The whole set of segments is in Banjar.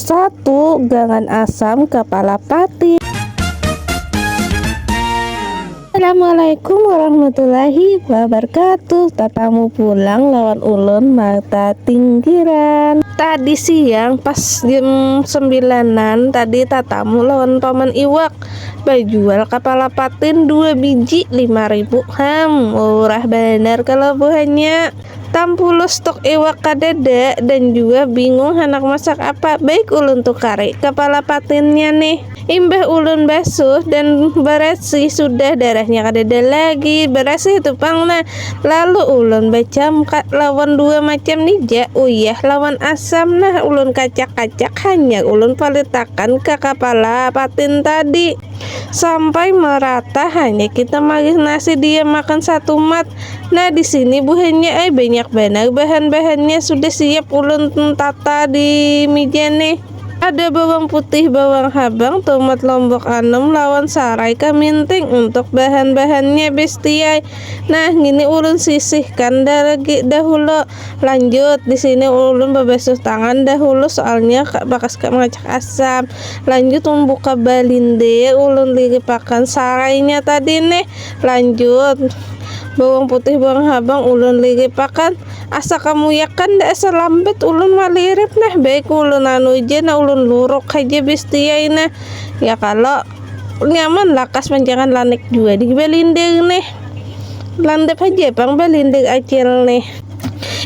Satu gangan asam kapala pati. Assalamualaikum warahmatullahi wabarakatuh Tatamu pulang lawan ulun mata tinggiran Tadi siang pas jam sembilanan tadi tatamu lawan paman iwak Bajual kapala patin dua biji lima ribu Ham murah banar kalo buhannya Tampuluh stok iwak kadada dan juga bingung handak masak apa. Baik ulun tukari kapala patinnya nih. Imbah ulun basuh dan barasih sudah darahnya kadada lagi. Barasih tu pang nah. Lalu ulun bacamka lawan dua macam ni ja, uyah lawan asam nah. Ulun kacak-kacak hanyar ulun palitakan ka kapala patin tadi. Sampai merata hanyar kita malih nasi diam makan satumat. Nah di sini buhannya ay banyak banar bahan-bahannya sudah siap ulun tata di meja nih. Ada bawang putih, bawang habang, tomat lombok anum lawan sarai kaminting untuk bahan-bahannya bestiai. Nah, ini ulun sisihkan dah lagi dahulu. Lanjut, di sini ulun babasuh tangan dahulu soalnya bakas kak mengacak asam. Lanjut membuka balinde, ulun liripakan sarainya tadi nih. Lanjut, Bawang putih bawang habang ulun liripakan asa kamuyakan da asa lambat ulun malirip nah baik ulun anu ja nah ulun luruk haja bestiai nah ya kalo nyaman lakas manjangan lanik jua di balindir nih landap haja pang balindir acil nih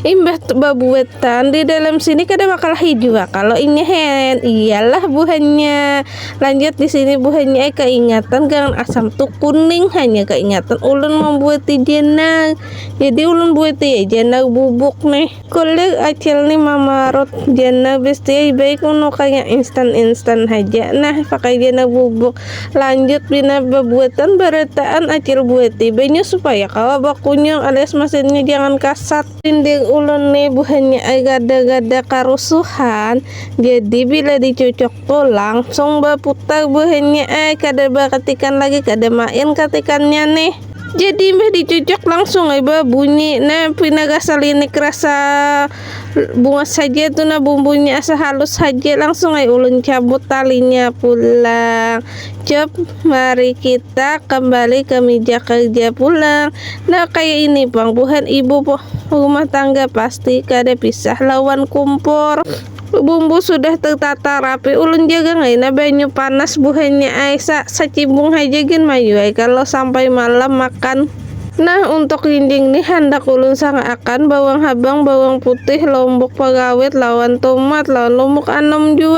imbah babuatan di dalam sini kada makalahi jua kalo inya hen iyalah buhannya. Lanjut di sini buhannya eh keingatan gangan asam tu kuning hanya keingatan ulun membuat jenang. Jadi ulun buat ya jenang bubuk nih. Kulit acil nih mamarut jenang besti baik unu kayak instan-instan haja. Nah pakai jenang bubuk. Lanjut bina bebuatan berataan acil buat banyu supaya kawa bakunyung alias mesinnya jangan kasat. Dinding ulun nih buhannya eh gada-gada karusuhan. Jadi bila dicucuk Oh, langsung berputar buhannya eh kada berketikan lagi kada main ketikannya nih jadi mbah dicocok langsung eh bunyi nah pina rasa linik rasa bunga saja tuh nah bumbunya asa halus saja langsung eh ulun cabut talinya pulang cep mari kita kembali ke meja kerja pulang nah kayak ini bang buhan ibu rumah tangga pasti kada pisah lawan kumpor Bumbu sudah tertata rapi ulun jagang ai nah banyu panas buhannya ai sa sacimbung haja gin mayu ai kalo sampai malam makan. Nah untuk linjing nih handak ulun sang akan bawang habang bawang putih lombok pagawit lawan tomat lawan lombok anum jua.